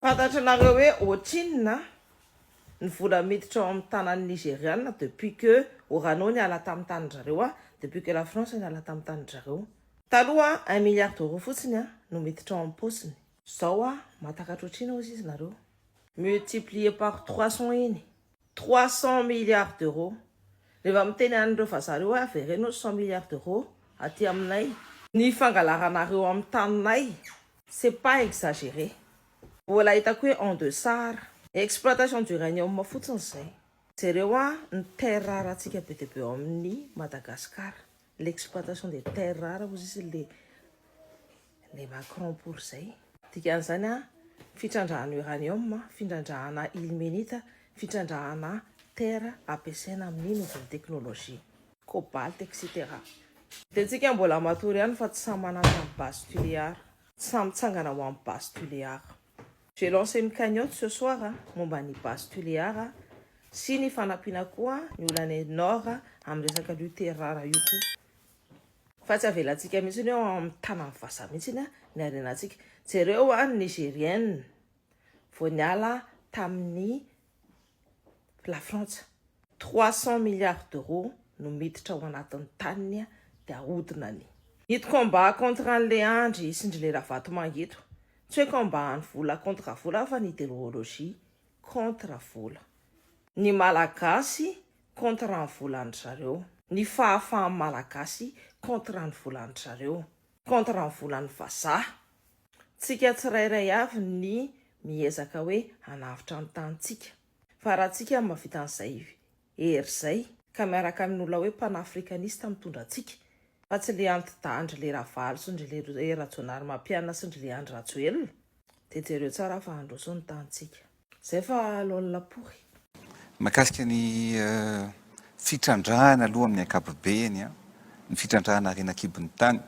Fantatranareo hoe ohatrinona ny vola miditra ao amin'ny tanan'ny Nigeriana depuis que Orano niala tamin'ny tanin-dry zareo a, depuis que la France niala tamin'ny tanin-dry zareo. Taloha un milliard d'euros fotsiny no miditra ao amin'ny paosiny. Zao a, mahatakatra ohatrina ozy izy nareo. Multiplier par trois cents iny. Trois cents milliards d'euros. Rehefa miteny an'ireo vazaha ireo hoe avereno cent milliards d'euros aty aminay. Ny fangalaranareo amin'ny taninay c'est pas exagéré. Mbola hitako hoe en deçà. Exploitation d'uranium fotsiny izay. Jereo an ny terres rares-ntsika be dia be ao amin'ny Madagascar. L'exploitation des terres rares ozy izy le le Macron pour zay. Dikan'izany a, fitrandrahana uranium, findrandrahana ilmenite, fitrandrahana terre ampiasaina amin'ny nouvelle technologie. Cobalt etc. Dia tsika mbola matory ihany fa tsy samy manandrano base Tuléar. Samy mitsangana ho am base Tuléar. Je lance une cagnotte ce soir momba ny base Tuléar sy ny fanampiana koa ny olanay Nord amin'ny resaka an'io Terrar io koa fa tsy avelantsika mihitsy hoe ao amin'ny tanan'ny vazaha mihitsy ny harenantsika. Jereo an ny Nigérienne vao niala tamin'ny Lafrantsa. Trois cents milliards d'euros no miditra ao anatin'ny taniny dia ahodina any. Ito combat contre an'le andry sy ndry le ravatomanga ito tsy hoe combat any vola contre vola fa ny ideologie contre vola ny malagasy contre ny volan-dry zareo ny fahafahan'ny malagasy contre ny volan-dry zareo. contre ny volan'ny vazaha. Tsika tsirairay avy ny miezaka hoe hanavotra ny tanintsika. Fa raha tsika no mahavita an'izay hery izay ka miaraka amin'olona hoe panafricaniste mitondra antsika fa tsy le anti-dahy ndry le ravalo sy ndry le rajonarimampianina sy ndry le andry rajoelina dia jereo tsara fa handroso ny tanintsika. Zay fa alon lapory. Mahakasika ny fitrandrahana aloha amin'ny ankapobeny, ny fitrandrahana harena an-kibon'ny tany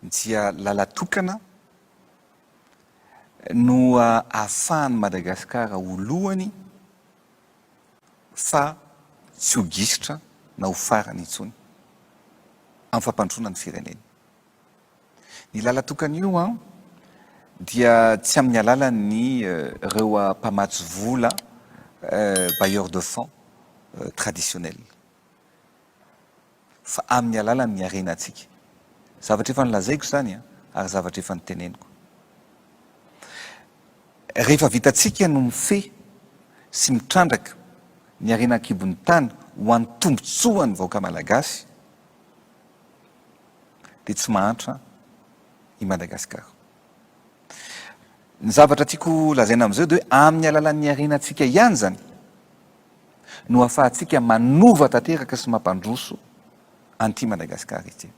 dia lalatokana no ahafahan'i Madagasikara ho lohany fa tsy ho gisitra na ho farany intsony amin'ny fampandrosoana ny firenena. Ny lalan-tokana io dia tsy amin'ny alalan'ny ireo mpamatsy vola, bailleurs de fonds, traditionnels, fa amin'ny alalan'ny harenantsika. Zavatra efa nolazaiko izany ary zavatra efa niteneniko. Rehefa vitantsika ny mifehy sy mitrandraka ny harena an-kibon'ny tany ho an'ny tombontsoan'ny vahoaka malagasy, dia tsy mahantra i Madagasikara. Ny zavatra tiako lazaina amin'izao dia hoe amin'ny alalan'ny harenantsika ihany izany no ahafahantsika manova tanteraka sy mampandroso an'ity Madagasikara ity.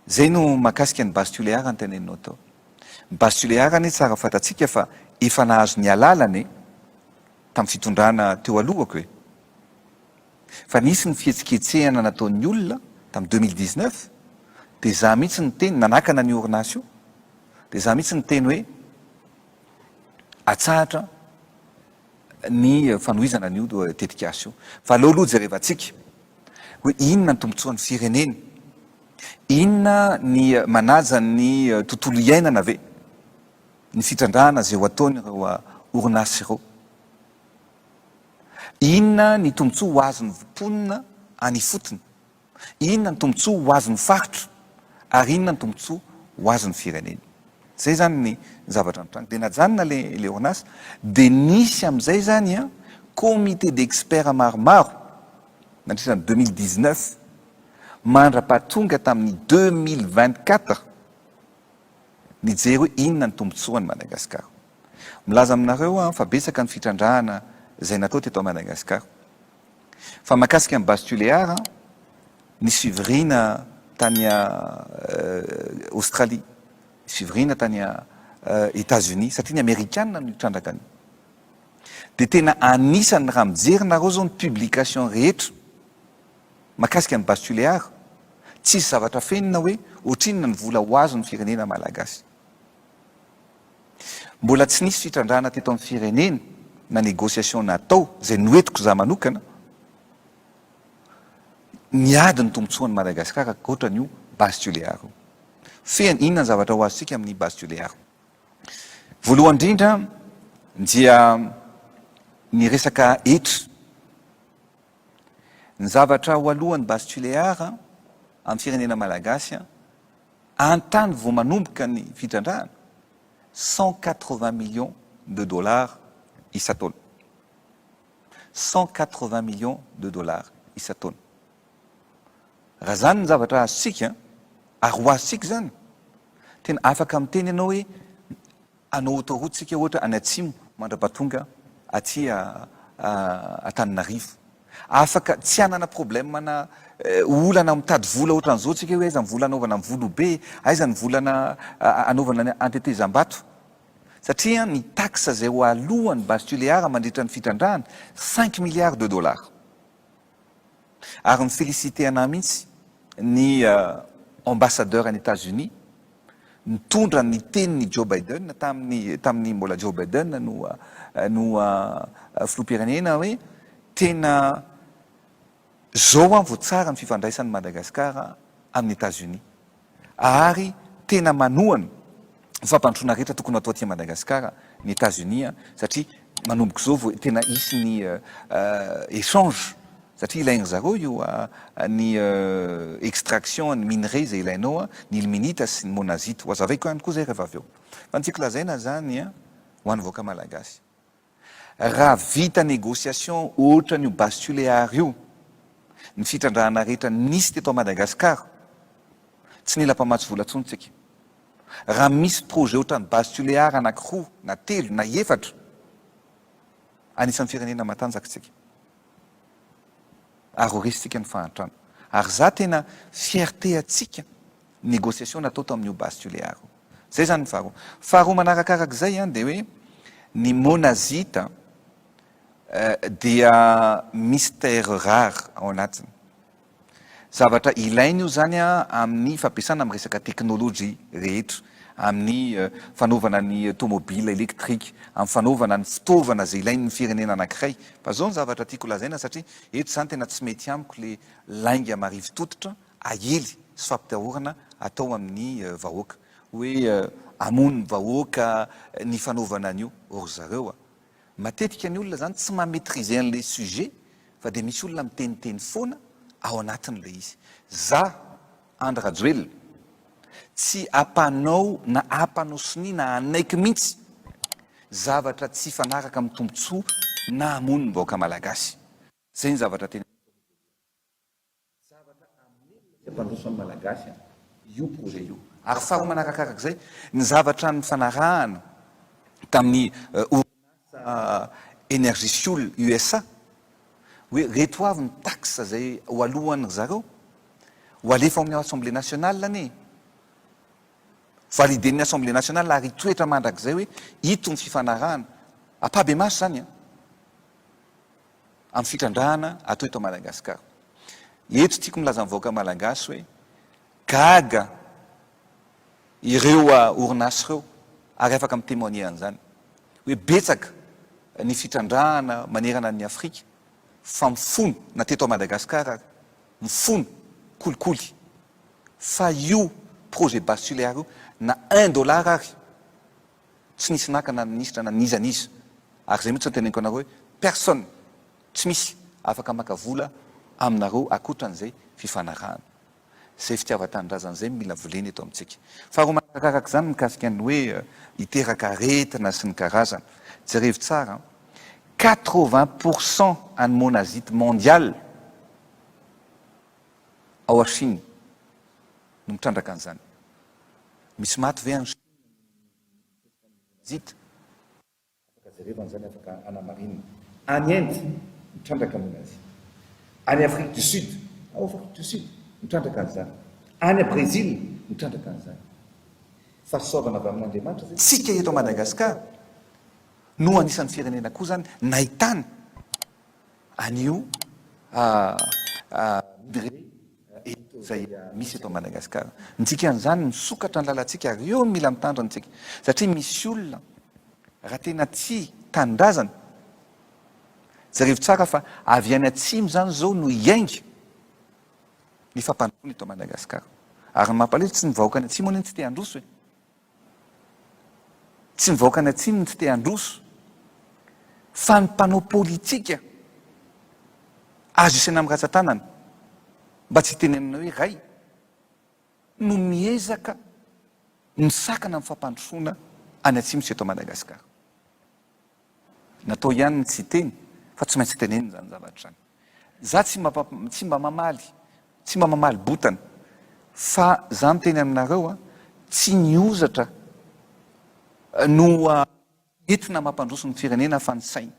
Izay no mahakasika ny base tulear ny teneninao tao. Ny base tulear anie tsara fantatsika fa efa nahazo ny alalany tamin'ny fitondrana teo alohako e. Fa nisy ny fihetsiketsehana nataon'ny olona tamin'ny deux mille dix neuf dia izaho mihitsy niteny, nanakana an'io orinasa io, dia izaho mihitsy niteny hoe atsahatra ny fanohizana an'io tetikasa io. Fa aleo aloha jerevantsika hoe inona ny tombontsoan'ny firenena? Inona ny manaja ny tontolo iainana ve ny fitrandrahana izay ho ataon'ireo orinasa ireo? Inona ny tombontsoa ho azon'ny mponina any ifotony? Inona ny tombontsoa ho azon'ny faritra? Ary inona ny tombontsoa ho azon'ny firenena? Izay izany ny zavatra nitranga. Dia najanona ilay ORNAS, dia nisy amin'izay izany comité d'experts maromaro nandritra ny deux mille dix-neuf mandra-pahatonga tamin'ny deux mille vingt-quatre nijery hoe inona ny tombontsoan'i Madagasikara. Milaza aminareo aho fa betsaka ny fitrandrahana izay natao teto Madagascar. Fa mahakasika an'i Base Tuléar, nisy fivoriana tany Australie, nisy fivoriana tany Etats Unis, satria ny Amerikana no nitrandraka an'io. Dia tena anisan'ny raha mijery nareo zao ny publication rehetra mahakasika an'i Base Tuléar, tsisy zavatra fenina hoe ohatrinona ny vola ho azon'ny firenena Malagasy. Mbola tsy nisy fitrandrahana teto amin'ny firenena na négociation natao, izay noentiko za manokana, niady ny tombotsoan'i Madagasikara ankoatra an'io base tulear io. Fehiny, inona ny zavatra ho azontsika amin'ny base tulear? Voalohany indrindra dia ny resaka hetra. Ny zavatra ho alohan'ny base tulear amin'ny firenena malagasy, An-tany vao manomboka ny fitrandrahana, cent quatre-vingts millions de dollars isan-taona. Cent quatre-vingts millions de dollars isan-taona. Raha izany ny zavatra azontsika, ary ho azontsika izany, tena afaka miteny ianao hoe, Hanao autoroute tsika ohatra any atsimo mandrapa tonga aty Antananarivo. Afaka tsy hanana problème na olana mitady vola ohatran'izao tsika hoe aiza ny vola anaovana ny volobe, aiza ny volana anaovana ny antetezambato. Satria ny taxe izay ho aloan'ny base tuléar mandritra ny fitrandrahana, cinq milliards de dollars. ary mi-felicite anah mihitsy ny ambassadeur any Etats-Unis nitondra ny tenin'i Joe Biden tamin'ny tamin'ny mbola Joe Biden no no filoham-pirenena hoe tena zao an vao tsara ny fifandraisan'i Madagasikara amin'ny Etats-Unis. ary tena manohana ny fampandrosoana rehetra tokony hatao aty Madagasikara ny Etazonia satria manomboka izao vao tena hisy ny echange satria ilain-dry zareo io ny extraction ny minerais izay ilainao ny ilmenita sy ny monazite, ho hazavaiko ihany koa izay rehefa avy eo fa ny tiako lazaina izany ho an'ny vahoaka Malagasy. Raha vita négociation ohatran io base Tuléar io ny fitrandrahana rehetra nisy teto Madagascar tsy nila mpamatsy vola tsony tsika. Raha misy projet ohatran base Tuléar anaky roa na telo na efatra anisan firenena matanjaka tsika ary ho resy tsika ny fahantrana. Ary za tena fierté atsika négociation natao tamin io base Tuléar io. Zay zany ny faharoa. Faharoa manarakarak'izay an, dia hoe ny monazite dia misy terres rares ao anatiny. Zavatra ilaina io zany an amin'ny fampiasana amin'ny resaka teknolojia rehetra, amin'ny fanaovana ny tomobila elektrika, amin'ny fanaovana ny fitaovana izay ilain'ny firenena anankiray. Fa zao ny zavatra tiako lazaina satria eto zany tena tsy mety amiko le lainga marivo tototra aely sy fampitahorana atao amin'ny vahoaka. Hoe hamono ny vahoaka ny fanaovana an'io ry zareo a! Matetika ny olona izany tsy ma-maitriser an'ilay sujet fa dia misy olona miteniteny foana ao anatin'ilay izy. Za, Andry Rajoelina, tsy ampanao na ampanao sonia na hanaiky mihitsy zavatra tsy hifanaraka amin'ny tombontsoa na hamono ny vahoaka malagasy. Izay ny zavatra tena. Zavatra hamelona sy hampandroso ny Malagasy io projet io. Ary faharoa manarakarak'izay, ny zavatra nifanarahana tamin'ny orinasa Energyfuel USA, hoe reto avy ny taxes izay ho aloan'ny ry zareo, ho alefa ao amin'ny Assemblée nationale anie e! Validen'ny Assemblée nationale ary hitoetra mandrakizay hoe ito ny fifanarahana. Ampahibemaso izany an! amin'ny fitrandrahana atao eto Madagasikara. Eto tiako milaza ny vahoaka malagasy hoe gaga ireo orinasa ireo ary afaka mi-temoigner an'izany hoe betsaka ny fitrandrahana manerana an'i Afrika fa mifono na teto Madagasikara ary mifono kolikoly fa io projet bas-tulear io na un dollar ary Tsy nisy naka na minisitra na n'iza n'iza. Ary izay mihitsy no teneniko anareo hoe personne, tsy misy, afaka maka vola aminareo akotran'izay fifanarahana. Izay fitiavan-tanindrazana izay no mila volena eto amintsika. Faharoa manarakaraka izany mikasika ny hoe hiteraka aretina sy ny karazany. Jerevo tsara an! Quatre-vingts pour cent an'ny monazite mondial ao Chine no mitrandraka an'izany. Misy maty ve any Chine? Zita. Afaka jerevana izany, afaka anamarinina. Any Inde, mitrandraka noho ny Azia. Any Afrique du Sud, ao Afrique du Sud, mitrandraka an'izany. Any Brezila, mitrandraka an'izany. Fahasoavana avy amin'Andriamanitra izay. Tsika eto Madagascar no anisan'ny firenena koa izany nahitana an'io midré. izay misy eto Madagascar ntsika an'izany misokatra ny lalantsika ary eo no mila mitandrina antsika satria misy olona raha tena tsy tanindrazana jereo tsara fa avy any atsimo izany izao no hiainga ny fampandrosoana eto Madagascar ary ny mampalahelo tsy ny vahoaka any atsimo anie no tsy te handroso e Tsy ny vahoakan'ny Atsimo no tsy te handroso fa ny mpanao politika azo isaina amin'ny ratsan-tanana, mba tsy hitenenana hoe ray, no miezaka misakana amin'ny fampandrosoana any Atsimo sy eto Madagasikara. Natao ihany ny tsy hiteny fa tsy maintsy tenenina izany zavatra izany. Za tsy mba tsy mba mamaly, tsy mba mamaly botana fa za miteny aminareo a, tsy ny hozatra no entina mampandroso ny firenena fa ny saina.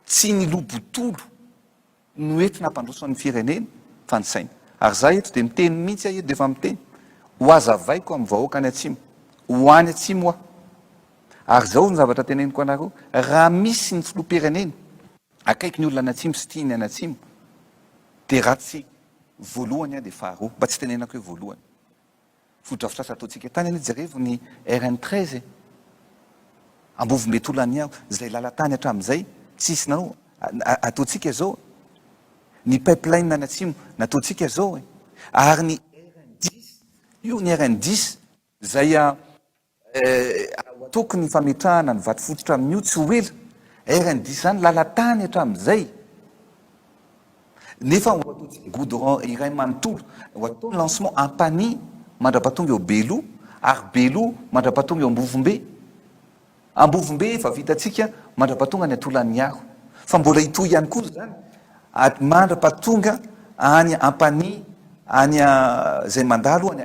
Tsy ny lo botolo. no eto nampandroso an'ny firenena fa ny saina ary za eto de miteny mintsy aho eto de efa miteny ho azavaiko amin'ny vahoaka any atsimo ho any atsimo aho ary zao ny zavatra teneniko anareo raha misy ny filoham-pirenena akaiky ny olona any atsimo sy tia ny any atsimo de raha tsy voalohany aho de faharoa mba tsy tenenako hoe voalohany Fotodrafitrasa ataontsika tany anie jerevo ny RN treize e! Ambovombe Tolaniaho izay lalan-tany hatramin'izay tsisy nanao ataontsika zao e! Ny pipeline any atsimo nataontsika zao e! Ary ny RN dix io ny RN dix izay Hahatoky ny fametrahana ny vato fototra amin'io tsy ho ela. Ary ny diso izany, lalan-tany hatramin'izay nefa ho ataontsika goudron iray manontolo, ho atao ny lancement Ampanihy mandrapatonga eo Beloha ary Beloha mandrapatonga eo Ambovombe. Ambovombe efa vitantsika mandrapatonga any Antolaniaro fa mbola hitohy ihany koa izany mandrapatonga any Ampanihy, any izay mandalo any.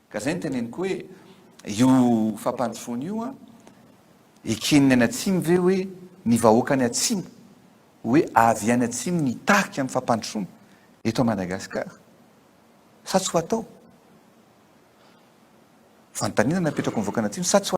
Ka zay no teneniko hoe io fampandrosoana io an, eken'ny any atsimo ve hoe ny vahoaka any atsimo hoe avy any atsimo ny tarika amin'ny fampandrosoana eto Madagascar sa tsy ho atao? Fanontaniana napetrako ny vahoaka any atsimo sa tsy ho atao?